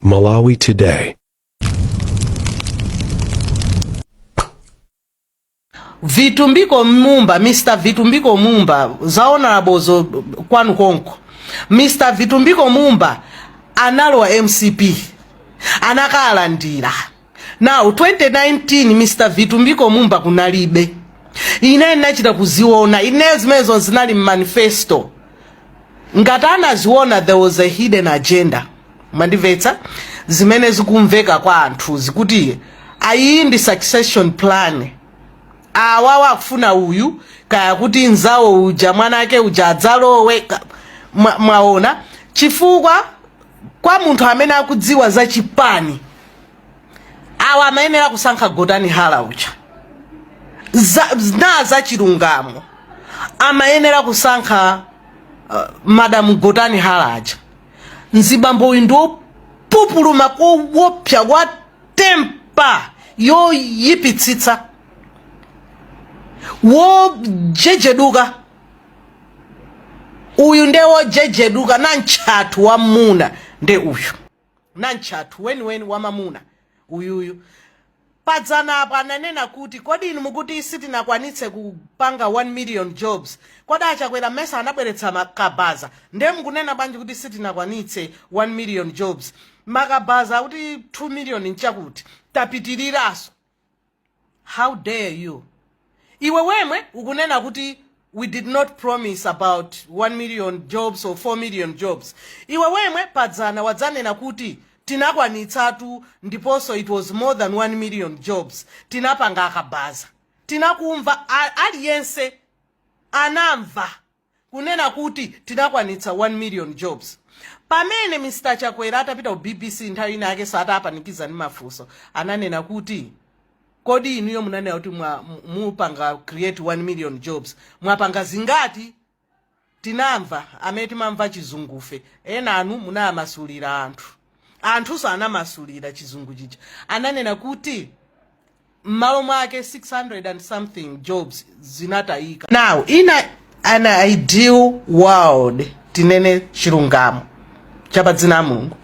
Malawi Today. vitumbiko mumba mr vitumbiko mumba zaonalabozo kwanu konko mr vitumbiko mumba analowa mcp anakalandira Now 2019 Mr Vitumbiko Mumba kunalibe, ine ndinachita kuziona ineyo zimenezo zinali mmanifesto. Ngati anaziona there was a hidden agenda, mwandimvetsa zimene zikumveka kwa anthu zikuti ayi ndi succession plan awawa akufuna uyu kaya kuti nzawo uja mwana ake uja adzalowe ka- mwa- mwaona chifukwa kwa munthu amene akudziwa za chipani awa amayenera kusankha Gotani Hara uja za, na za chilungamo amayenera kusankha uh, madamu Gotani Hara aja mzibambo uyu ndiwopupuluma kowopsa wa tempa yoyipitsitsa wojejeduka uyu ndewojejeduka namtchathu wammuna nde uyu Namtchathu weniweni wamamuna uyuyu. Padzana apa ananena kuti kodi inu mukuti sitinakwanitse kupanga 1 million jobs, kodi a Chakwera mmesa anabweretsa ma kabaza nde mukunena bwanji kuti sitinakwanitse 1 million jobs? Makabaza akuti 2 million nchakuti? Tapitiriranso. how dare you iwe wemwe ukunena kuti we did not promise about 1 million jobs or 4 million jobs iwe wemwe padzana wadzanena kuti tinakwanitsatu ndiponso it was more than 1 million jobs tinapanga akabaza tinakumva a- aliyense anamva kunena kuti tinakwanitsa 1 million jobs pamene Mr Chakwera atapita ku bbc nthawi inayakenso atapanikiza ndi mafunso ananena kuti kodi inuyo munanena kuti mwa- mu- mupanga create 1 million jobs mwapanga zingati tinamva amene timamva chizungufe enanu munamasulira anthu anthunso anamasulira chizungu chija ananena kuti mmalo mwake 600 and something jobs zinatayika now in a, an ideal world tinene chilungamo cha pa dzina la mulungu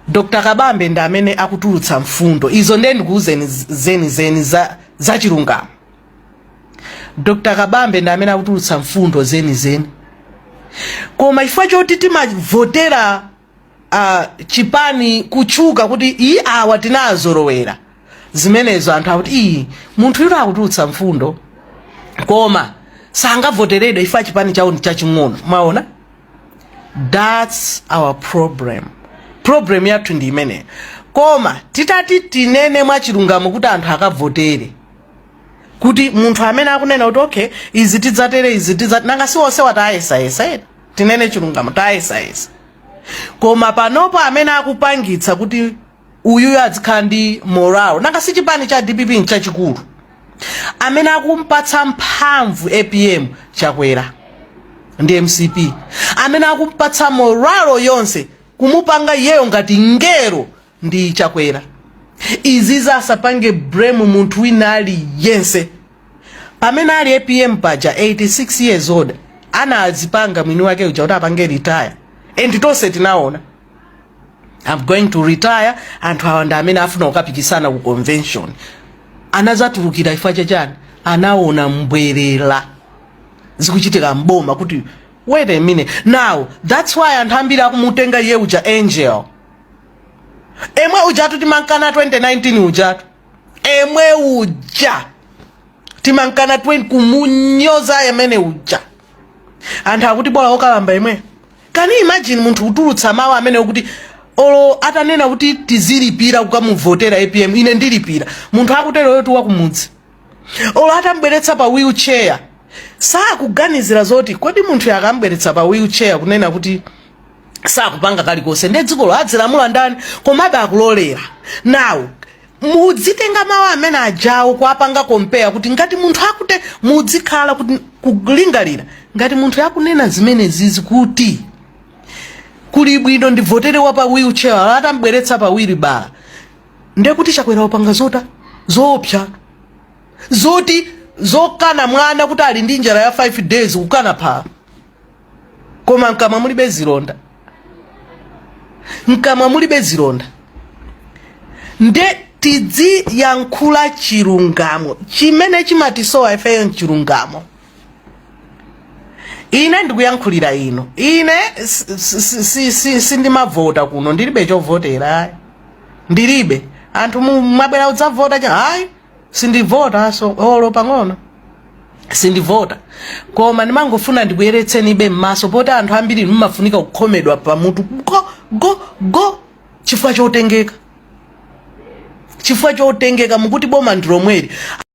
dr kabambe ndi amene akutulutsa mfundo izo ndiye ndikuuzeni zeni zeni za, za chilungamo dr kabambe ndi amene akutulutsa mfundo zeni zeni koma chifukwa choti timavotera uh, chipani kutchuka kuti iyi awa tinazolowera zimenezo anthu akuti iyi munthuyutu akutulutsa mfundo koma sangavoteredwe chifukwa chipani chawo ndi chaching'ono mwaona that's our problem problem yathu ndi imeneyo koma titati tinene mwachilungamo kuti anthu akavotere kuti munthu amene akunena kuti okay izi tidzatere izi tidzat nanga si onsewa tayesayesa ena tinene chilungamo tayesayesa koma panopo amene akupangitsa kuti uyuyu adzikhala ndi moral nanga si chipani cha dpp nchachikulu amene akumpatsa mphamvu apm chakwera ndi mcp amene akumpatsa moralo yonse kumupanga iyeyo ngati ngero ndi chakwera izizi asapange blame munthu wina ali yense pamene ali apm paja 86 years old anazipanga mwini wake uja kuti apange retire and tonse tinaona i'm going to retire and awa ndi amene afuna kukapikisana ku convention anazatulukira chifukwa chachani anaona mbwerera zikuchitika mboma kuti wait a minute now that's why anthu ambiri akumutenga iye uja angel emwe ujatu timankana 2019 ujatu emwe uja timankana 20 kumunyoza yemwe uja anthu akuti bola okalamba emwe can you imagine munthu kutulutsa mawu amene okuti olo atanena kuti tizilipira kukamuvotera apm ine ndilipira munthu akuteroyotu wakumudzi olo atambweretsa pa wheelchair sakuganizira zoti kodi munthuyo akambweretsa pa wheelchair kunena kuti sakupanga kalikonse nde dzikolo adzilamula ndani komabe akulolera now mudzitenga mawu amene ajawo kuapanga compare kuti ngati munthu akute mudzikhala kuti kulingalira ngati munthuyo akunena zimenezizi kuti kuli bwino ndivotere wa pa wheelchair atambweretsa pa wheelbarrow ndekuti chakwera wapanga zota zoopsa zoti zokana mwana kuti ali ndi njala ya 5 days kukana phala koma mkamwa mulibe zilonda mkamwa mulibe zilonda nde tidziyankhula chilungamo chimene chimatisowa ifeyo nchilungamo ine ndikuyankhulira ino ine sindimavota kuno ndilibe chovotera ndilibe anthu mabwera udzavota chani ayi sindivotanso olo pang'ono sindivota koma ndimangofuna ndikuyeretseni inu m'maso poti anthu ambiri mumafunika kukhomedwa pamutu go go go chifukwa chotengeka chifukwa chotengeka mukuti boma ndilomweli